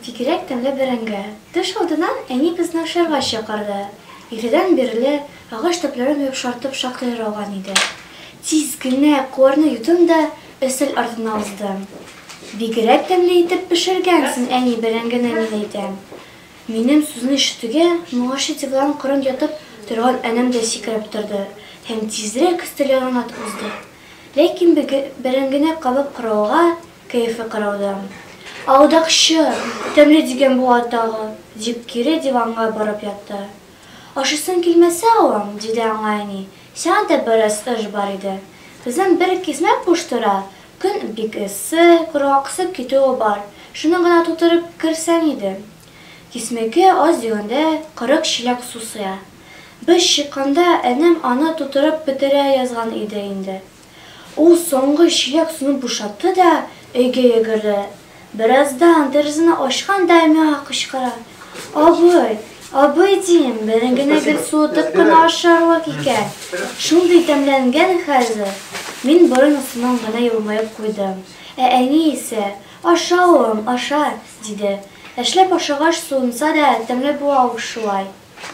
Бигрәк тәмле бәрәңге. Төш алдыннан әни безне ашарга чакырды. Иртәдән бирле агач төпләрен йомшартып шактый яруган иде. Тиз генә куарны юдым да өстәл артына уздым. Бигрәк тәмле итеп пешергәнсең, әни, бәрәңгене, мин әйтәм. Минем сүзне ишетүгә, моңарчы диван кырын ятып торган энем дә сикереп торды һәм тизрәк өстәл янына атып узды. Ләкин бәрәңгене кабып карауга, кәефе кырылды. Алдакчы! Тәмле дигән бу атагы! дип, кире диванга барып ятты. Ашыйсың килмәсә, алам, диде аңа әни. Сиңа да бераз ыж бар иде. Кызым бер кисмә куш тора, көн бик эссе, коргаксып китүе бар, шуны гына тутырып керсәң иде. Кисмәгә аз дигәндә кырык чиләк су сыя. Без чыкканда энем аны тутырып бетерә язган иде инде. Ул соңгы чиләк суны бушатты да, өйгә йөгерде. Бераздан тәрәзәне ачкан да миңа кычкыра. Абый, абый, дим, берен генә гел суытып кына ашарлык икән. Шундый тәмләнгән хәзер. Мин борын астыннан гына елмаеп куйдым. Ә әни исә, Аша, улым, аша, диде. Әшләп ашагач суынса да, тәмле була ул шулай.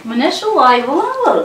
Менә шулай була ул.